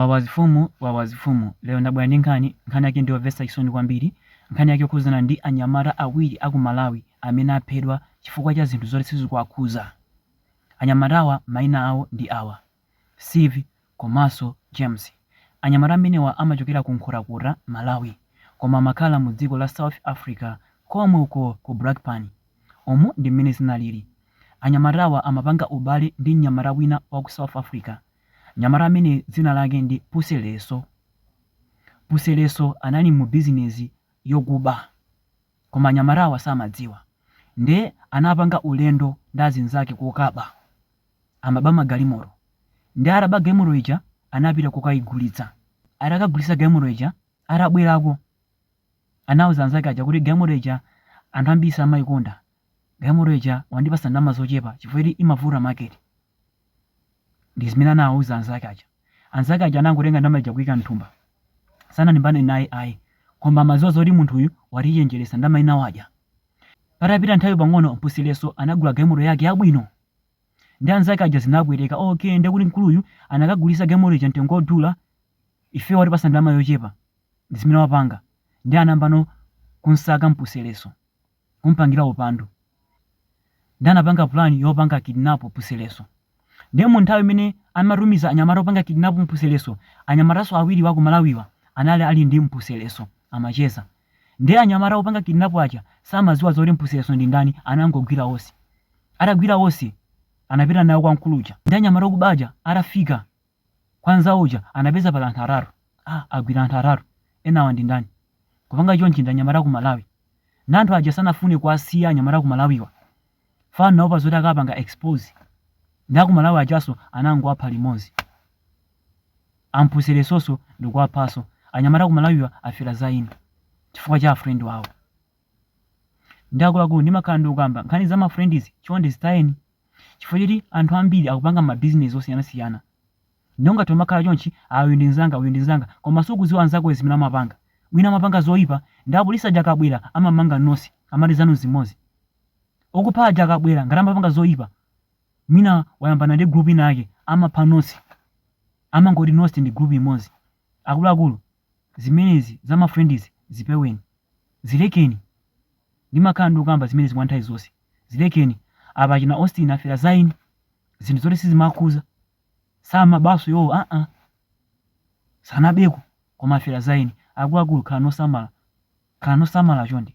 Wawa zifumu, wawa zifumu. Lero ndabwera ndi nkhani, nkhani yake ndiyomvetsa chisoni kwambiri. Nkhani yake ikukhudzana ndi anyamata awiri aku Malawi amene aphedwa chifukwa cha zinthu zoti sizikuwakhuza. Anyamatawa maina awo ndi awa, Steve komanso James. Anyamata amenewa amachokera ku Nkhotakota, Malawi, koma amakhala mu dziko la South Africa komwe uko ku Brakpan. Umu ndi momwe zinalili. Anyamatawa amapanga ubale ndi mnyamata wina waku South Africa. Mnyamata amene dzina lake ndi Puseleso. Puseleso anali mu bizinezi yokuba. Koma anyamata awa samadziwa. Nde anapanga ulendo ndi azinzake kokaba. Amaba magalimoto. Nde ataba galimoto ija anapita kokayigulitsa. Atakagulitsa galimoto ija atabwerako anauza anzake aja kuti galimoto ija anthu ambiri samayikonda. Galimoto ija andipatsa ndalama zochepa chifukwa choti imavuta market. Ndi zimene anawauza anzake aja. Anzake aja anangotenga ndalama ija kuika m'thumba. Sanalimbane naye ayi, koma amadziwa zoti munthuyu watichenjeresa, ndalama ina wadya. Patapita nthawi pang'ono Puseleso anagula galimoto yake yabwino. Nde anzake aja zinawapweteka, ok nde kuti mkuluyu anakagulisa galimoto ija mtengo odula, ifeyo watipasa ndalama yochepa. Ndi zimene wapanga. Nde anayambano kunsaka Puseleso. kumpangira upandu ndi anapanga plan yopanga kidnap Puseleso ndiye mu nthawi imene amatumiza anyamata opanga kidnap Puseleso anyamataso awiri a ku Malawiwa anali ali ndi Puseleso amacheza ndiye anyamata opanga kidnap aja samaziwa zoti Puseleso ndi ndani anangogwira onse atagwira onse anapita nawo kwa mkulu uja nde anyamata okuba aja atafika Kwa nzawo uja anapeza pali anthu atatu. Ah, agwira anthu atatu. Enawa ndi ndani? Kupanga chonchi ndi anyamata ku Malawi. Na anthu aja sanafune kuwasiya anyamata ku Malawiwa. Chifukwa anaopa zoti akapanga expose. Ndi aku Malawi ajaso anangowapha limodzi. Puselesoso ndi kuwaphaso. Anyamata ku Malawiwa afera za eni. Chifukwa cha friend wawo. Nde akuluakulu ndimakhala ndikukamba nkhani za ma friend izi chonde zitayeni. chifukwa choti anthu ambiri akupanga mabizinesi osiyanasiyana nde ungathe umakhala chonchi ah uyu ndi mzanga uyu ndi mzanga koma sukuziwa mnzakoyo zimene amapanga wina amapanga zoipa nde apolisi aja akabwera amamanga nonse amati zanu nzimodzi okupha aja akabwera ngati amapanga zoipa mwina wayambana ndi group ina yake amapha nonse amangoti nonse ndi group imodzi akuluakulu Zimenezi za ma friends zipeweni. Zilekeni. Ndimakhala ndikukamba zimenezi kwa nthawi zonse. Zilekeni. Apa achina Austin afera za eni. Zinthu zoti sizimaakhuza. Samabanso iwowo aa. Sanabeko koma afera za eni. Akuluakulu khalani osamala. Khalani osamala chonde.